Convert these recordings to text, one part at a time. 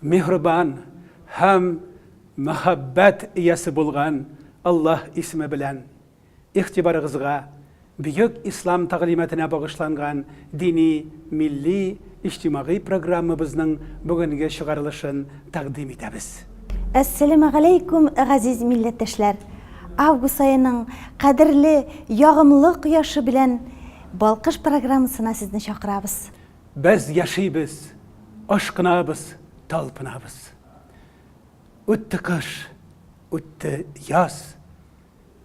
Миһрбан һәм мәхәббәт иясе булган Аллаһ исеме белән игътибарыгызга Бөек Ислам тәгълиматына багышланган дини, милли, иҗтимагый программабызның бүгенге чыгарылышын тәкъдим итәбез. Әссәләмәгаләйкүм, газиз милләттәшләр! Август аеның кадерле ягымлы кояшы белән Балкыш программасына сезне чакырабыз. Без яшибез, ашкынабыз, талпынабыз. Үтте кыш, үтте яз,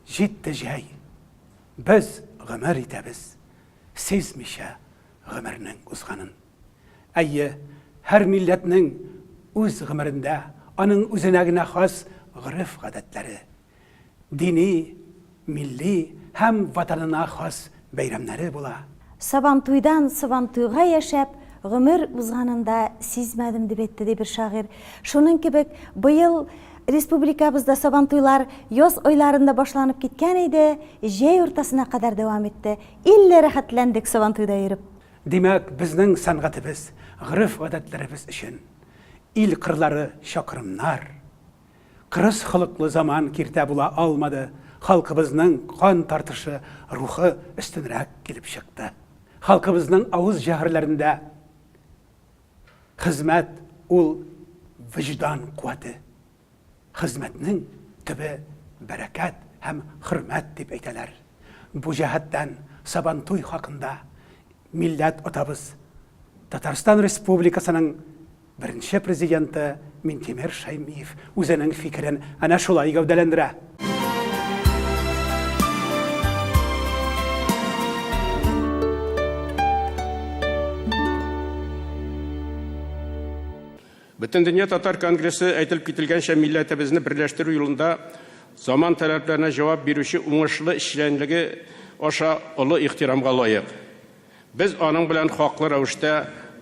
җитте җәй. Без гомер итәбез, сизмичә гомернең узганын. Әйе, һәр милләтнең үз гомерендә аның үзенә генә хас гореф-гадәтләре Дини, милли һәм Ватанына хас бәйрәмнәре була. Сабантуйдан Сабантуйга яшәп, гомер узганын да сизмәдем, дип әйтте, ди бер шагыйрь. Шуның кебек, быел республикабызда Сабантуйлар яз айларында башланып киткән иде, җәй уртасына кадәр дәвам итте. Илле рәхәтләндек Сабантуйда йөреп. Димәк, безнең сәнгатебез, гореф-гадәтләребез өчен ил кырлары чакрымнар Кырыс холыклы заман киртә була алмады, халкыбызның кан тартышы рухы өстенрәк килеп чыкты. Халкыбызның авыз җәһрләрендә хезмәт ул вөҗдан куәте. Хезмәтнең төбе бәрәкәт һәм хөрмәт дип әйтәләр. Бу җәһәттән Сабантуй хакында Милләт атабыз, Татарстан Республикасының беренче Президенты Минтимер Шәймиев үзенең фикерен әнә шулай гәүдәләндерә. Бөтендөнья татар конгрессы, әйтелеп кителгәнчә, милләтебезне берләштерү юлында заман таләпләренә җавап бирүче уңышлы эшчәнлеге аша олы ихтирамга лаек. Без аның белән хаклы рәвештә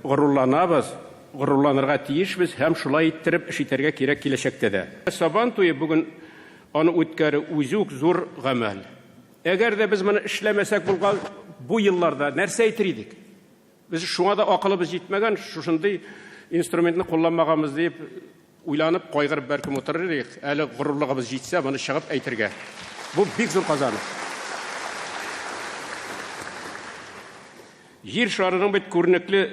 горурланабыз, горурланырга тиешбез һәм шулай иттереп эш итәргә кирәк киләчәктә дә. Сабан туе бүген аны үткәрү, үзе үк зур гамәл. Әгәр дә без моны эшләмәсәк булган бу елларда, нәрсә әйтер идек? Без шуңа да акылыбыз җитмәгән, шушындый инструментны кулланмаганбыз диеп уйланып, кайгырып бәлкем утырыр идек, әле горурлыгыбыз җитсә, моны чыгып әйтергә. Бу бик зур казаныш. Җир шарының бит күренекле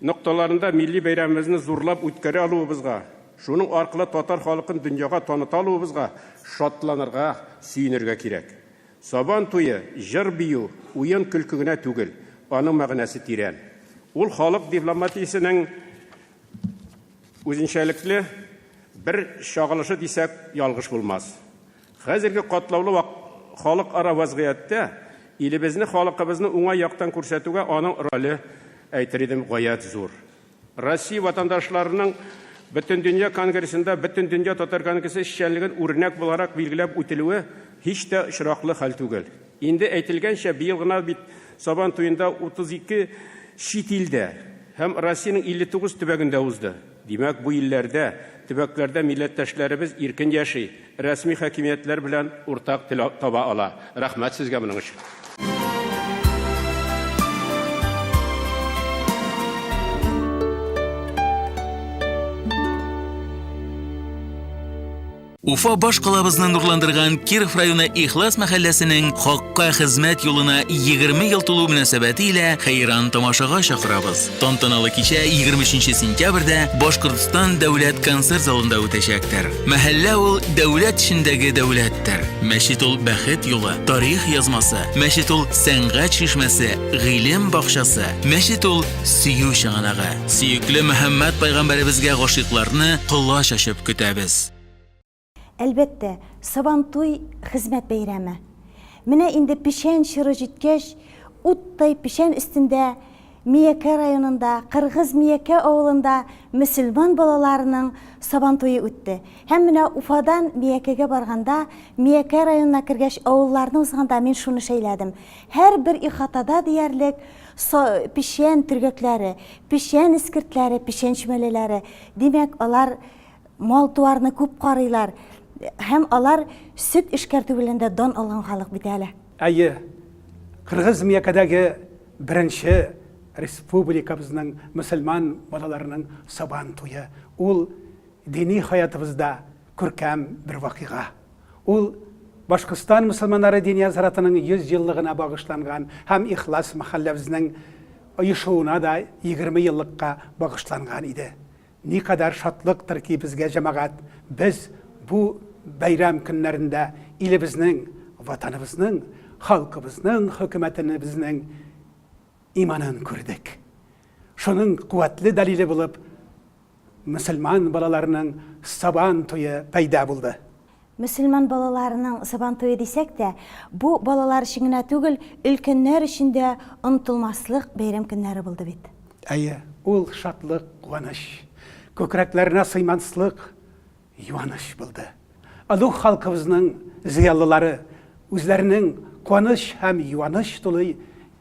нокталарында милли бәйрәмебезне зурлап үткәрә алуыбызга, шуның аркылы татар халыкын дөньяга таныта алуыбызга шатланырга, сөенергә кирәк. Сабан туе, җыр-бию, уен-көлке генә түгел, аның мәгънәсе тирән. Ул халык дипломатиясенең үзенчәлекле бер чагылышы дисәк, ялгыш булмас. Хәзерге катлаулы халыкара вәзгыятьтә илебезне, халыкыбызны уңай яктан күрсәтүгә аның роле, әйтер идем, гаять зур. Россия ватандашларының Бөтендөнья конгрессында Бөтендөнья татар конгрессы эшчәнлеген үрнәк буларак билгеләп үтелүе һич тә очраклы хәл түгел. Инде әйтелгәнчә, быел гына бит Сабан туенда 32 чит илдә һәм Россиянең 59 төбәгендә узды. Димәк, бу илләрдә, төбәкләрдә милләттәшләребез иркен яши, Рәсми хакимиятләр белән уртак тел таба ала. Рәхмәт сезгә моның өчен. Уфа баш калабызны нурландырган Киров районы Ихлас мәхәлләсенең хакка хезмәт юлына 20 ел тулу мөнәсәбәте илә хәйран тамашага чакырабыз. Тантаналы кичә 23 сентябрьдә Башкортстан дәүләт концерт залында үтәчәктер. Мәхәллә ул дәүләт эчендәге дәүләттер. Мәчет ул бәхет юлы, тарих язмасы. Мәчет ул сәнгать чишмәсе, гыйлем бакчасы. Мәчет ул сөю чыганагы. Сөекле Мөхәммәд пайгамбәребезгә гашыйкларны колач ачып көтәбез. Әлбәттә, Сабантуй, хезмәт бәйрәме. Менә инде печән чоры җиткәч, уттай печән өстендә Миякә районында Кыргыз Миякә авылында мөселман балаларының Сабантуе үтте. Һәм менә Уфадан Миякәгә барганда, Миякә районына кергәч, авылларны узганда мин шуны шәйләдем. Һәрбер ихатада диярлек са печән төргәкләре, печән эскертләре, печән чүмәләләре. Димәк, алар мал-туарны күп карыйлар. Һәм алар сөт эшкәртү белән дә дан алган халык бит әле. Әйе, Кыргыз Миякәдәге беренче республикабызның мөселман балаларының Сабан туе, ул дини хаятыбызда күркәм бер вакыйга. Ул Башкортстан мөселманнары дини азратының 100 еллыгына багышланган һәм Ихлас мәхәлләбезнең оешуына да 20 еллыкка багышланган иде. Никадәр шатлыктыр ки безгә, җәмәгать, без бу бәйрәм көннәрендә илебезнең, Ватаныбызның, халкыбызның хөкүмәтенебезнең иманын күрдек. Шуның куәтле дәлиле булып мөселман балаларының Сабан туе пәйда булды. Мөселман балаларының Сабантуе дисәк тә, бу балалар өчен генә түгел, өлкәннәр өчен дә онытылмаслык бәйрәм көннәре булды бит. Әйе, ул шатлык, куаныч, күкрәкләренә сыйманслык юаныч булды. Олуг халкыбызның зыялылары үзләренең куаныч һәм юаныч тулы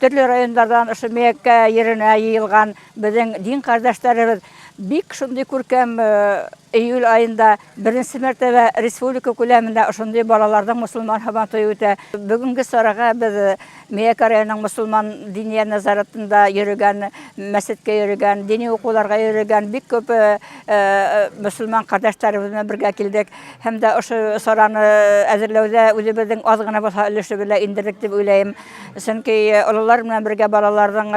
Төрле районнардан ошо Мияккә йиренә йыелган безнең дин кардәшләребез бик шундый күркәм июль аенда беренче мәртәбә республика күләмендә ошондый балаларның мусулман Һабантуе үтә. Бүгенге чарага без Миякә районының мусулман диния назаратында йөрегән, мәчеткә йөрегән, дини укуларга йөрегән бик күп мусулман кардәшләребез белән бергә килдек һәм дә ошо чараны әзерләүдә үзебезнең аз гына булса өлеше белән иңдердек дип уйлыйм. Чөнки олылар белән бергә балаларның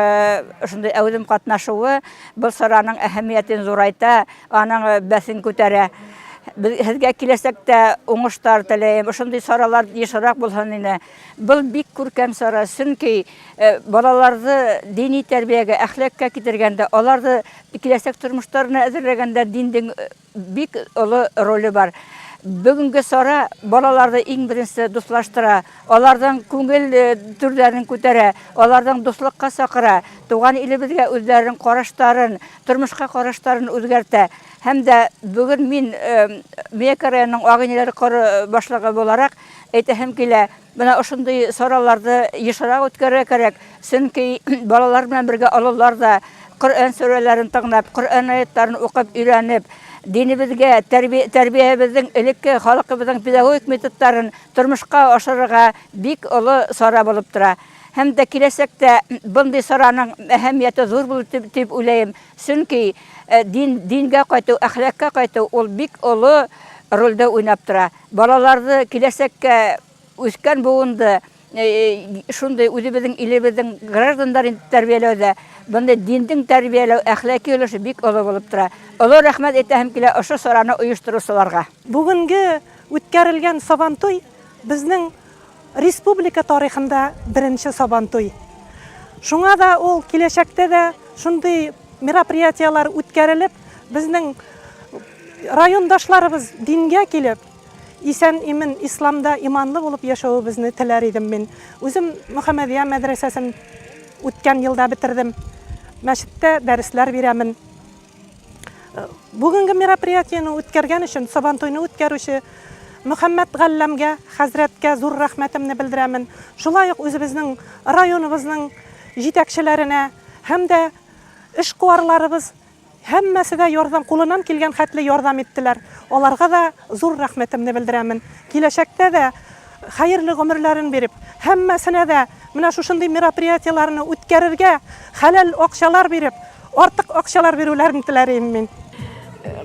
шундый әүдем катнашуы бу сараның әһәмиятен зурайта, аның бәсен күтәрә. Сезгә киләчәктә уңыштар теләйм. Шундый саралар ешрак булсын иде. Бу бик күркәм сара, чөнки балаларны дини тәрбиягә, әхлакка китергәндә, аларны киләчәк тормышларына әзерләгәндә диннең Бик олы роле бар. Бүгенге сара балаларды иң беренче дуслаштыра, аларның күңел түрләрен күтәрә, аларның дуслыкка сакыра, туган илебезгә үзләренең караштарын, тормышка караштарын үзгәртә. Һәм дә бүген мин Миякә районының Агыйнеләр коры башлыгы буларак әйтәһем килә, Менә ошындый сорауларды ешрак үткәрергә кирәк, чөнки балалар белән бергә олылар да Коръән сүрәләрен тыңлап, Коръән аятларын укып өйрәнеп, динебезгә, тәрбиябезнең, элекке халкыбызның педагогик методларын тормышка ашырырга бик олы чара булып тора. Һәм дә киләчәктә мондый чараның әһәмияте зур булыр дип уйлыйм, чөнки дингә кайту, әхлакка кайту ул бик олы рольдә уйнап тора. Балаларды, киләсәккә үскән буынды шундый үзебезнең илебезнең гражданнары итеп тәрбияләүдә мондый диндең тәрбияләү, әхлаки өлеше бик олы булып тора. Олы рәхмәт әйтәһем килә ошо чараны оештыручыларга. Бүгенге үткәрелгән Сабантуй безнең Республика тарихында беренче Сабантуй. Шуңа да ул киләчәктә дә шундый мероприятияләр үткәрелеп, безнең райондашларыбыз дингә килеп, исән-имен, исламда иманлы булып яшәвебезне теләр идем мин. Үзем Мөхәммәдия мәдрәсәсен үткән елда бетердем. Мәчеттә дәресләр бирәмен. Бүгенге мероприятиене үткәргән өчен, Сабантуйны үткәрүче Мөхәммәт Галләмгә, хәзрәткә зур рәхмәтемне белдерәмен. Шулай ук үзебезнең районыбызның җитәкчеләренә һәм дә эшкуарларыбыз һәммәсе дә ярдәм кулынан килгән хәтле ярдәм иттеләр. Аларга да зур рәхмәтемне белдерәмен. Киләчәктә дә хәерле гомерләрен биреп, һәммәсенә дә менә шушындый мероприятиеләрне үткәрергә хәләл акчалар биреп, артык акчалар бирүләрен теләрим мин.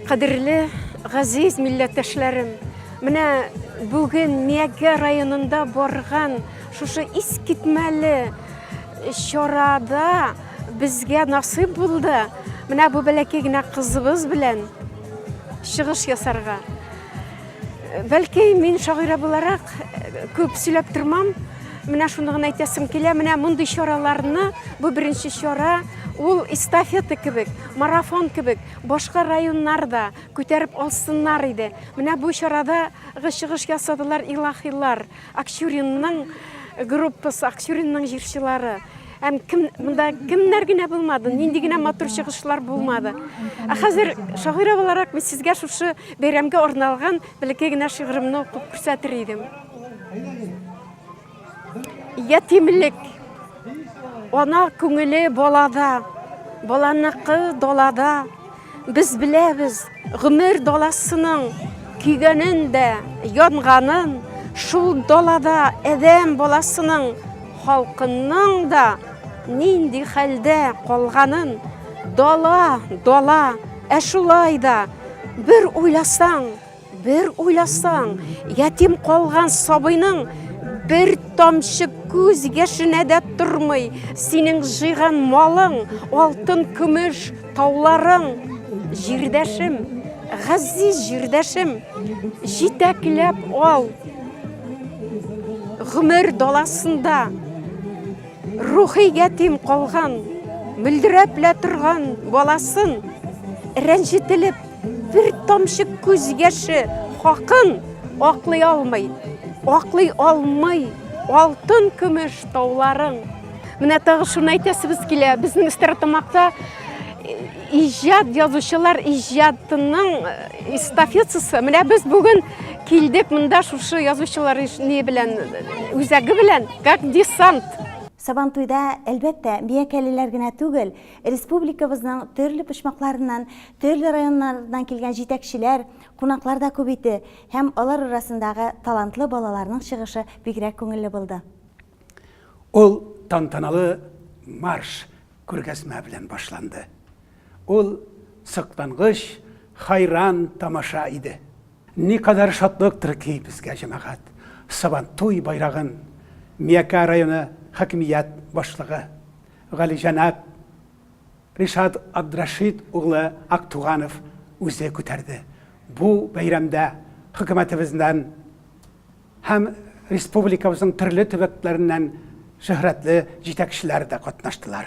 Кадерле, газиз милләттәшләрем, менә бүген Миякә районында барган шушы искитмәле чарада безгә насыйп булды менә бу бәләкәй генә кызыбыз белән чыгыш ясарга. Бәлки, мин шагыйрә буларак күп сөйләп тормам. Менә шуны гына әйтәсем килә. Менә мондый чараларны, бу беренче чара, ул эстафета кебек, марафон кебек, башка районнар да күтәреп алсыннар иде. Менә бу чарада чыгыш ясадылар илаһилар. Акчуринның группасы, Акчуринның җырчылары. Әм кем монда кемнәр генә булмады, нинди генә матур чыгышлар булмады. Ә хәзер шагыйрә буларак мин сезгә шушы бәйрәмгә арналган бәләкәй генә шигыремне укып күрсәтер идем. Ятимлек. Ана күңеле балада, баланыкы далада. Без беләбез, гомер даласының көйгәнен дә, янганын, шул далада адәм баласының халкының да нинди хәлдә калганын. Дала, дала, ә шулай да бер уйласаң, Бер уйласаң, ятим калган сабыйның бер тамчы күз яшенә дә тормый, синең җыйган малың, алтын, көмеш, тауларың, җирдәшем, газиз җирдәшем, җитәкләп ал. Гомер даласында Рухи ятим калган, мөлдерәп лә торган баласын, рәнҗетелеп, бер тамчы күз яше хакын аклый алмый, аклый алмый алтын көмеш тауларын. Менә тагы шуны әйтәсебез килә, безнең Стәрлетамакта э, иҗат язучылар иҗатының э, эстафетасы. Менә без бүген килдек монда шушы язучылар не белән, э, үзәге белән. Как десант! Сабантуйда, әлбәттә, миякәлеләр генә түгел, республикабызның төрле почмакларыннан, төрле районнардан килгән җитәкчеләр, кунаклар да күп иде һәм алар арасындагы талантлы балаларның чыгышы бигрәк күңелле булды. Ул тантаналы марш күргәзмә белән башланды. Ул соклангыч, хайран тамаша иде. Никадәр шатлыктыр ки безгә, җәмәгать, Сабантуй байрагын Миякә районы хакимият башлыгы галиҗәнап Ришат Абдрашит углы Актуганов үзе күтәрде. Бу бәйрәмдә хөкүмәтебезнән һәм республикабызның төрле төбәкләреннән шөһрәтле җитәкчеләр дә катнаштылар.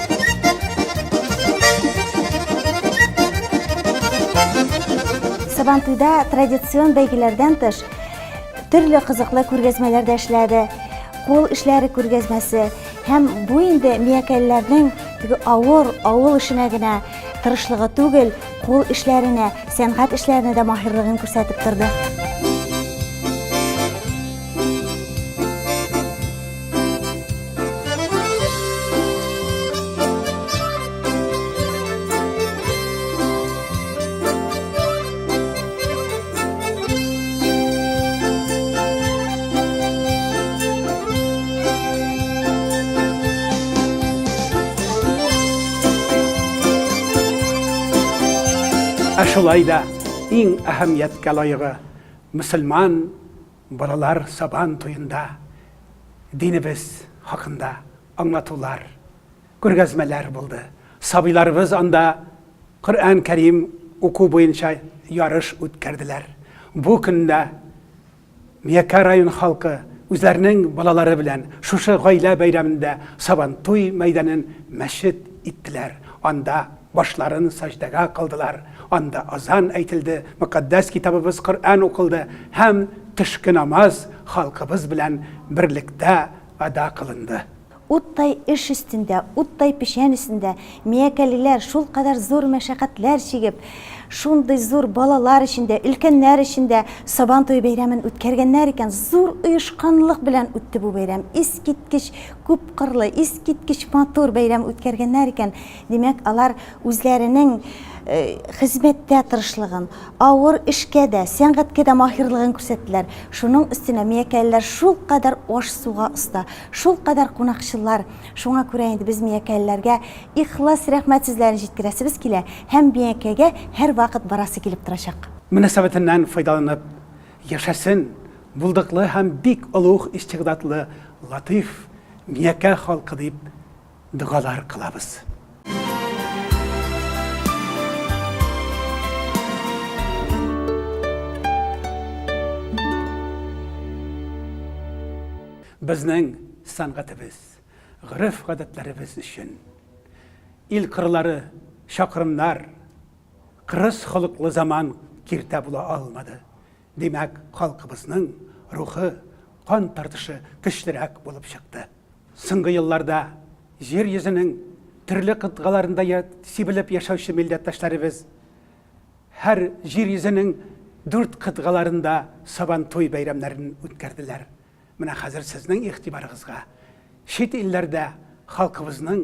Сабантуйда традицион бәйгеләрдән тыш төрле кызыклы күргәзмәләр дә эшләде. Кул эшләре күргәзмәсе һәм бу инде миякәлләрнең теге авыр авыл эшенә генә тырышлыгы түгел, кул эшләренә, сәнгать эшләренә дә маһирлыгын күрсәтеп торды. Ә шулай да иң әһәмияткә лаегы мөселман Балалар Сабан туенда динебез хакында аңлатулар, күргәзмәләр булды. Сабыйларыбыз анда Коръән Кәрим уку буенча ярыш үткәрделәр. Бу көндә Миякә район халкы үзләренең балалары белән шушы гаилә бәйрәмендә Сабантуй мәйданын мәчет иттеләр. Анда. Башларын саҗдәгә кылдылар, анда азан әйтелде, Мөкатдәс Китабыбыз Коръән укылды һәм төшке намаз халкыбыз белән берлектә ада кылынды. Уттай эш өстендә, уттай печән өстендә миякәлеләр шулкадәр зур мәшәкатьләр чигеп, шундый зур балалар өчен дә, өлкәннәр өчен дә Сабантуй бәйрәмен үткәргәннәр икән, зур оешканлык белән үтте бу бәйрәм, искиткеч күпкырлы, искиткеч матур бәйрәм үткәргәннәр икән, Димәк, алар үзләренең хезмәттә тырышлыгын, авыр эшкә дә, сәнгатькә дә маһирлыгын күрсәттеләр. Шуның өстенә миякәлеләр шулкадәр аш-суга оста, шулкадәр кунакчыллар. Шуңа күрә инде без миякәлеләргә ихлас рәхмәт сүзләрен җиткерәсебез килә һәм Миякәгә һәрвакыт барасы килеп торачак. Мөнәсәбәтеннән файдаланып яшәсен булдыклы һәм бик олуг истигъдадлы Латыйф Миякә халкы дип Догалар кылабыз. Безнең сәнгатебез, гореф-гадәтләребез өчен ил кырлары, чакрымнар, кырыс холыклы заман киртә була алмады. Димәк, халкыбызның рухы, кан тартышы көчлерәк булып чыкты. Соңгы елларда Җир йөзенең төрле кытгаларында сибелеп яшәүче милләттәшләребез һәр Җир йөзенең дүрт кытгаларында Сабантуй бәйрәмнәрен үткәрделәр. Менә хәзер сезнең игътибарыгызга чит илләрдә халкыбызның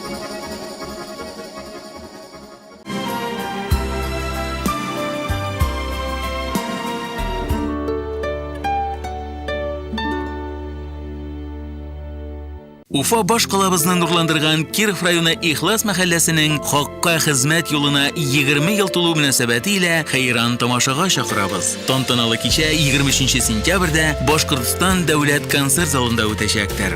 Уфа баш калабызны нурландырган Киров районы Ихлас мәхәлләсенең хакка хезмәт юлына 20 ел тулу мөнәсәбәте илә хәйран тамашага чакырабыз. Тантаналы кичә 23 сентябрьдә Башкортстан дәүләт концерт залында үтәчәктер.